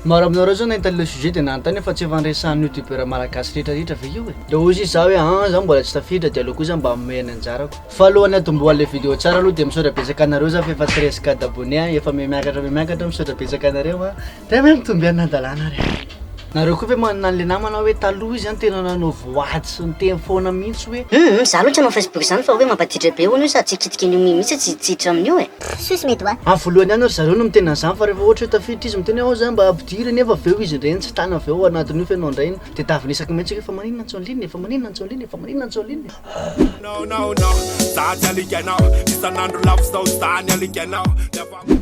Maro aminareo zao nahita le sujet de nanontany fa tsy efa niresahan'ny youtubeur malagasy rehetra rehetra ve io e? De hoy sisa za hoe an za mbola tsy tafiditra de aleo kosa mba amehy ny anjarako. Fa alohan'ny atombohan'le video tsara aloha de misaotra betsaka anareo za fa efa treize cas d'abonné an efa me miakatra me miakatra misaotra betsaka anareo an de me mitombo ihany nadalana ary an. Nareo koa ve manana anle namana hoe taloha izy an tena nanao voady sy niteny foana mihitsy hoe. Humm za aloha tsy hanao facebook zany fa hoe mampadidrabe hono io sady tsy kitika an'io mimi mihitsy tsy hiditra amin'io e. Sus mes doigts. Amin'ny voalohany ihany ry zareo no miteny an'izany fa rehefa ohatra hoe tafiditra izy miteny hoe ao zany mba ampidiro e nefa avy eo izy indray no tsy tana avy eo ao anatin'io feno handray iny dia davinesako mihitsy hoe fa maninona no tsy on-ligne e, fa maninona no tsy on-ligne e, fa maninona no tsy on-ligne e.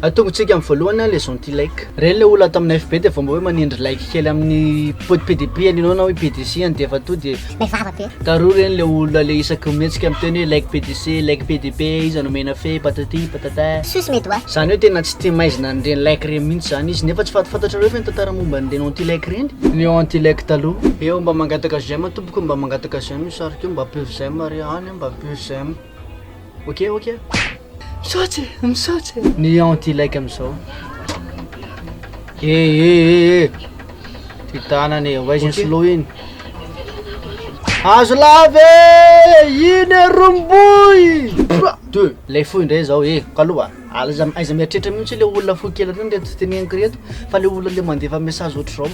Atongontsika amin'ny voalohany an les anti like. Ireny le olona ato amin'ny FB dia vao mba hoe manindry like kely amin'ny pdp an'ianao na hoe pdc any dia efa tonga dia May vava be. Taroa reny le olona le isaky mihetsika miteny hoe like PDC, like PDP, iza no omena fe, patati, patata. Suss mes doigts. Zany hoe tena tsy tia maizina an'ireny like ireny mihitsy zany izy nefa tsy fatafatantrareo ve ny tantara momba an'ireny anti like ireny? Ny anti like taloha. Eo mba mangataka j'aime tompoko mba mangataka j'aime io sariko io mba pur j'aime re any mba pur j'aime. Ok ok. Misaotra e, misaotra e. Ny anti like amizao. E e e e. Ty tanany e, ovaizy ny slow iny. Azo lava e! Iny e romboy! Deux. Lay fo indray zao e, kaloha. Alaiza aiza mieritreritra mihitsy le olona fo kely reny reto teneniko reto fa le olona le mandefa message ohatr'izao.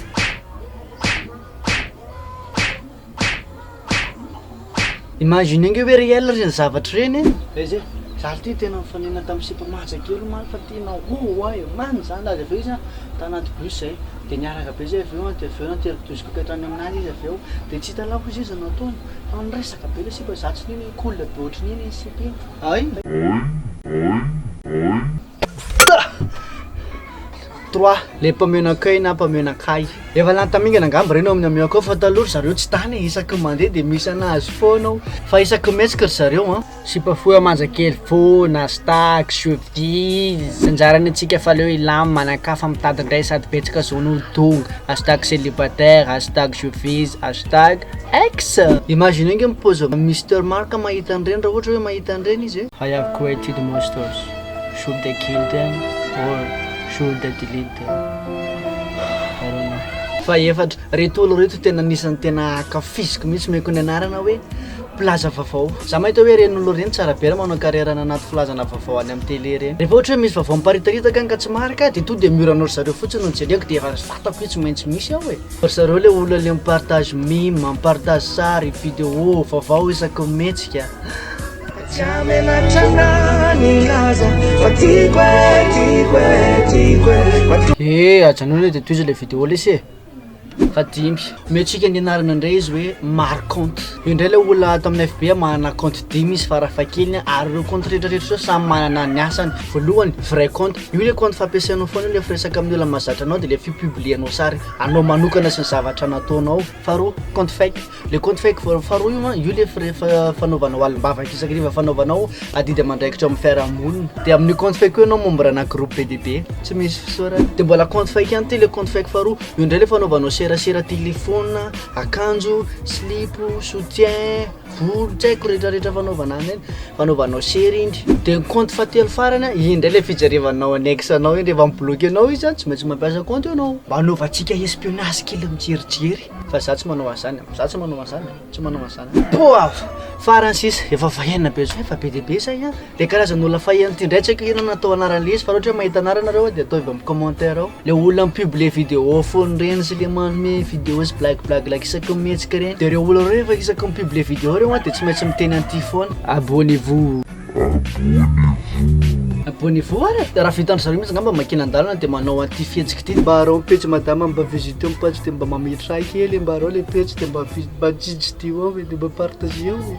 Imaginer nge hoe réel reny zavatra reny e! Aiza e? Za ty tena nifanena tamin'ny sipa maja kely omaly fa ty nahohoho ahy e! Maninona zany raha de avy eo izy tanaty bus zay de niaraka be zay avy eo de avy eo nateriko douze coupes hatrany amin'azy izy avy eo de tsy hitanao koa zaiza no ataony fa niresaka be le sipa za tsy nino hoe cool be ohatrin'ino iny sipa iny hay! Trois, le mpameno accueil na mpameno akay. Efa lany tamingana angamba reny ao amin'ny amiao akao fa taloha ry zareo tsy tany e, isaky ny mandeha dia misy anazy foana ao fa isaky ny mihetsika ry zareo an. Sipa fohy manja kely foana, stax, chevilles, tsy anjarany antsika fa aleo hilam, manankafa, mitady indray sady betsaka zony ho tonga, hashtag celibataire, hashtag chevilles, hashtag ex. Imaginez ange ny paozin'i Mister Marc mahita an'ireny raha ohatra hoe mahita an'ireny izy e. Hay avy koa etude masters. Should I kill them or should I delete them? I don't know. Fahefatra, reto olo reto tena anisan'ny tena ankafiziko mihitsy omeko ny anarana hoe mpilaza vavao. Za mahita hoe ireny olo ireny tsara be raha manao carrière any anaty filazana vavao any amin'ny tele ireny. Rehefa ohatra hoe misy vavao miparitaritaka any ka tsy marika aho dia tonga dia mihora anao ry zareo fotsiny no jereko dia efa ry vatako io tsy maintsy misy ao e. Ry zareo le olona le mi-partage meme, mi-partage sary, video, vavao isaky ny mihetsika. Ee ajanony hoe de tohizo le video lesy e! Fahadimy, omentsika ny anarana indray izy hoe marconte, io indray ilay olona ato amin'ny FB manana compte dimy izy farafahakeliny a, ary ireo compte rehetrarehetra ireo samy manana ny asany, voalohany vrai compte, io le compte fampiasanao foana io rehefa resaka amin'ny olona mahazatra anao de le fi-publier-nao sary anao manokana sy ny zavatra nataonao. Faharoa, compte fake, le compte fake voalohany faharoa io an, io le frais fa- fanaovanao alim-bavaka isak'ariva fanaovanao adidy aman-draikitra ao amin'ny fiarahamonina, de amin'io compte fake io ianao membre-na groupe be dia be tsy misy fisaorana, de mbola compte fake ihany ty le compte fake faharoa, io ndray le fanaovanao serasera telefona, akanjo, silipo, soutien. Vory tsy haiko retraretra fanaovana anay iny, fanaovanao sery indry. De ny compte fahatelo farany an, iny ndray le fijalevanao annexe anao iny rehefa mi-bloque anao izy an, tsy maintsy mampiasa compte ianao. Mba anaovantsika espionnage kely mijerijery. Fa za tsy manao an'zany an, za tsy manao an'zany an, tsy manao an'zany an. Poa! Farany sisa, efa vahiny be zao, efa be dia be zay an. Le karazana olona faheno ty ndray tsy haiko inona no atao anarany izy fa raha ohatra hoe mahita anarana nareo de ataovy amin'ny commentaire ao le olona mi publie vidéo foana reny sy le manome vidéo sy blague blague like isaky ny mihetsika reny de reo olona reo refa isaky ny mi publie vidéo reo an de tsy maintsy miteny an'ity foana abonnez vous abonnez vous ara de raha vitan-dry zareo mintsy ngamba makina an-dalana de manao an'ity fihetsika ity mba arao ny pejy madama mba visiteo ny page de mba mametraha kely mba arao le pejy de mba vi- mba jijidio ao e de mba partageo e.